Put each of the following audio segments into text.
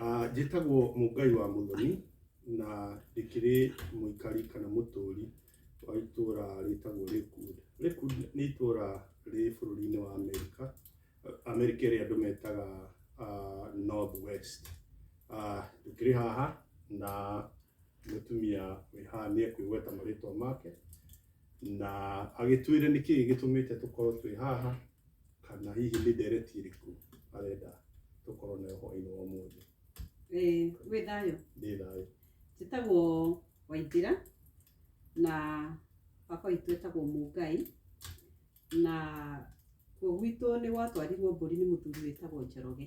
Ah, njĩtagwo mũngai wa mũthoni na ndĩkĩrĩ mũikari kana mũtũũri wa itũũra rĩtagwo Lakewood. Lakewood nĩ itũũra rĩ bũrũri-inĩ wa Amerika, Amerika ĩrĩa andũ metaga ah, North West. Ah, Ndĩkĩrĩ haha na mũtumia wĩ haha nĩ ekwĩgweta marĩtwa make na agĩtwĩre nĩkĩ gĩtũmĩte tũkorwo twĩ haha. kana hihi nĩ ndereti ĩrĩkũ arenda tũkorwo nayo hwaĩ-inĩ wa ũmũthĩ Eh, wĩ thayũ ndĩ thayũ njĩtagwo waithira na baba witũ etagwo mũngai na kuo gwitũ nĩ gwatwarirwo mbũri nĩ mũthuri wĩtagwo njoroge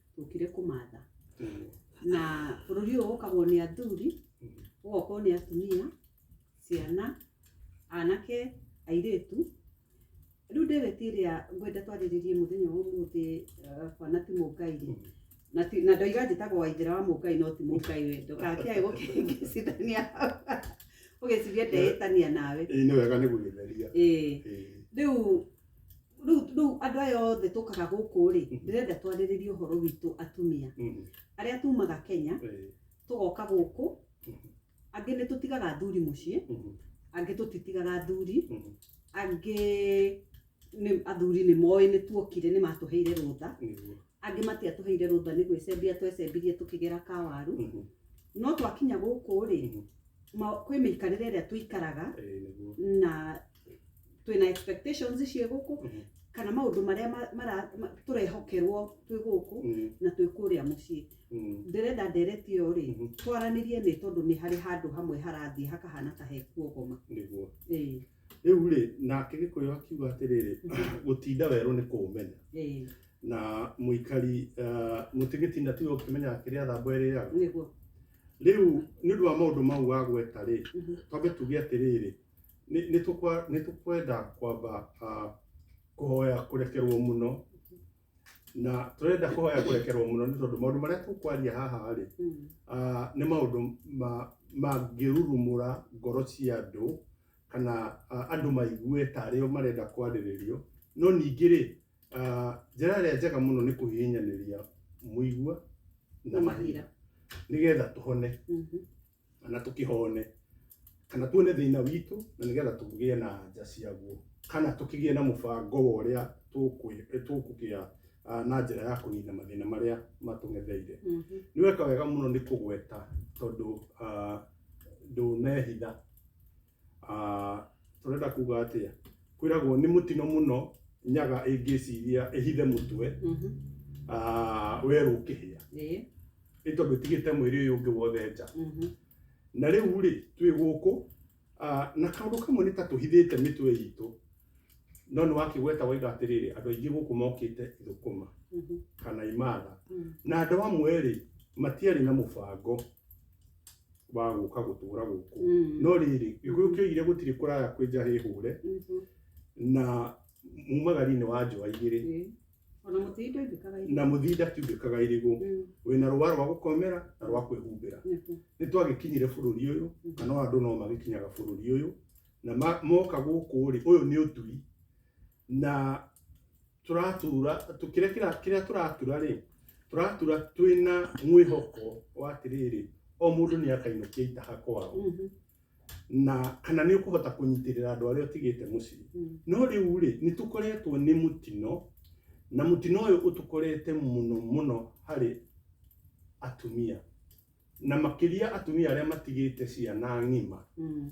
tũkire kũmatha na bũrũri ũyũ ũkagwo nĩ athuri ũgokorwo nĩ atumia ciana anake airĩtu rĩu ndĩrĩti ĩrĩa ngwenda twarĩrĩrie mũthenya wa ũmũthĩ eh, bwana ti mũngai rĩ na ti- na ndoiga njĩtagwo waithĩra wa mũngai no ti mũngai we ndũgakĩae gũkĩngĩcithania ũgĩciria ndeĩtania nawe ĩĩ nĩ wega nĩ gũgĩtheria ĩĩ Ĩĩ. rĩu rĩu rĩu andũ aya othe tũkaga gũkũ rĩ ndĩrenda twarĩrĩrie ũhoro witũ atumia Mhm. arĩa tumaga kenya Eh, tũgoka gũkũ angĩ nĩ tũtigaga athuri mũciĩ mhm, angĩ tũtitigaga athuri mhm. angĩ nĩ athuri nĩ moĩ nĩ tuokire nĩ matũheire rũtha Nĩguo. angĩ matiatũheire rũtha nĩ gwĩcembia twecembirie tũkĩgera kawaru Mhm. no twakinya gũkũ rĩ Mhm. ma- kwĩ mĩikarĩre ĩrĩa tũikaraga Ĩĩ, nĩguo. na twĩna expectations ciĩ gũkũ Mhm. kana maũndũ marĩa ma- mara- ma- tũrehokerwo twĩ gũkũ Mhm. na twĩ kũrĩa mũciĩ Mhm. ndĩrenda ndereti ĩyo rĩ Mhm. twaranĩrie nĩ tondũ nĩ harĩ handũ hamwe harathiĩ hakahana ta hekuogoma nĩguo Ĩĩ, rĩu rĩ nake gĩkũyũ akiuga atĩrĩrĩ gũtinda werũ nĩ kũũmenya ĩĩ, na mũikari eh, mũtigĩtinda tiwe ũkĩmenyaga kĩrĩa thamba ĩrĩaga nĩguo rĩu nĩ ũndũ wa maũndũ mau wa gweta rĩ Mhm. twambe tuge atĩrĩrĩ nĩ- nĩ tũkwa- nĩ tũkwenda kwamba ah, kũhoya kũrekerwo mũno na tũrenda kũhoya kũrekerwo mũno nĩ tondũ maũndũ marĩa tũkwaria haha rĩ Mm. ah, nĩ maũndũ ma- mangĩrurumũra ngoro cia andũ kana ah, andũ maigue tarĩo marenda kwarĩrĩrio no ningĩ rĩ Ah, njĩra ĩrĩa njega mũno nĩ kũhihinyanĩria mũigua na Na mahira mahira. nĩgetha tũhone Mhm. kana tũkĩhone kana tuone thĩna witũ na nĩgetha tũgĩe na anja ciaguo kana tũkĩgĩe na mũbango wa ũrĩa tũkwĩ- eh, tũkũgĩa ah, na njĩra ya kũnina mathĩna marĩa matũng'etheire Mhm. nĩ weka wega mũno nĩ kũgweta tondũ ah, ndũnehitha Ah, ũrenda kuga atĩa kwĩragwo nĩ mũtino mũno nyaga ĩngĩciria ĩhithe mũtwe Mhm. ah, werũ ũkĩhĩa Ĩĩ. nĩ tondũ ĩtigĩte mwĩrĩ ũyũ ũngĩ wothe nja Mhm. na rĩu rĩ twĩ gũkũ ah, na kaũndũ kamwe nĩ ta tũhithĩte mĩtwe itũ no nĩ wakĩgweta waiga atĩrĩrĩ andũ aingĩ gũkũ mokĩte thũkũma Mhm. kana imatha Mhm. na andũ amwe rĩ matiarĩ na mũbango wa gũka gũtũra gũkũ Mm. no rĩrĩ gĩkũyũ kĩoigire gũtirĩ kũraya kwĩ nja hĩhũre Mhm. na mumagari-inĩ wa njũa igĩrĩ Ĩĩ. Ona mũtĩi ndũigĩkaga irio. na mũthinda tiumbĩkaga irigũ Mm. wĩna rũa rwa gũkomera na rwa kwĩhumbĩra Nĩguo. nĩ twagĩkinyire bũrũri ũyũ kana o andũ no magĩkinyaga bũrũri ũyũ na ma- moka gũkũ rĩ ũyũ nĩ ũturi na tũratura tũ- kĩrĩa kĩra- kĩrĩa tũratura rĩ tũratura twĩna mwĩhoko wa atĩrĩrĩ o mũndũ nĩ akainũkia itaha kwao Mhm. na kana nĩ ũkũhota kũnyitĩrĩra andũ arĩa ũtigĩte mũciĩ Mm. no rĩu rĩ nĩ tũkoretwo nĩ mũtino na mũtino ũyũ ũtũkorete mũno mũno harĩ atumia na makĩria atumia arĩa matigĩte ciana ng'ima Mm.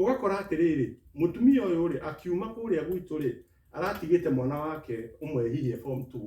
Ũgakora atĩrĩrĩ, mũtumia ũyũ-rĩ, akiuma kũrĩa gwitũ-rĩ, aratigĩte mwana wake ũmwe hihi e form two,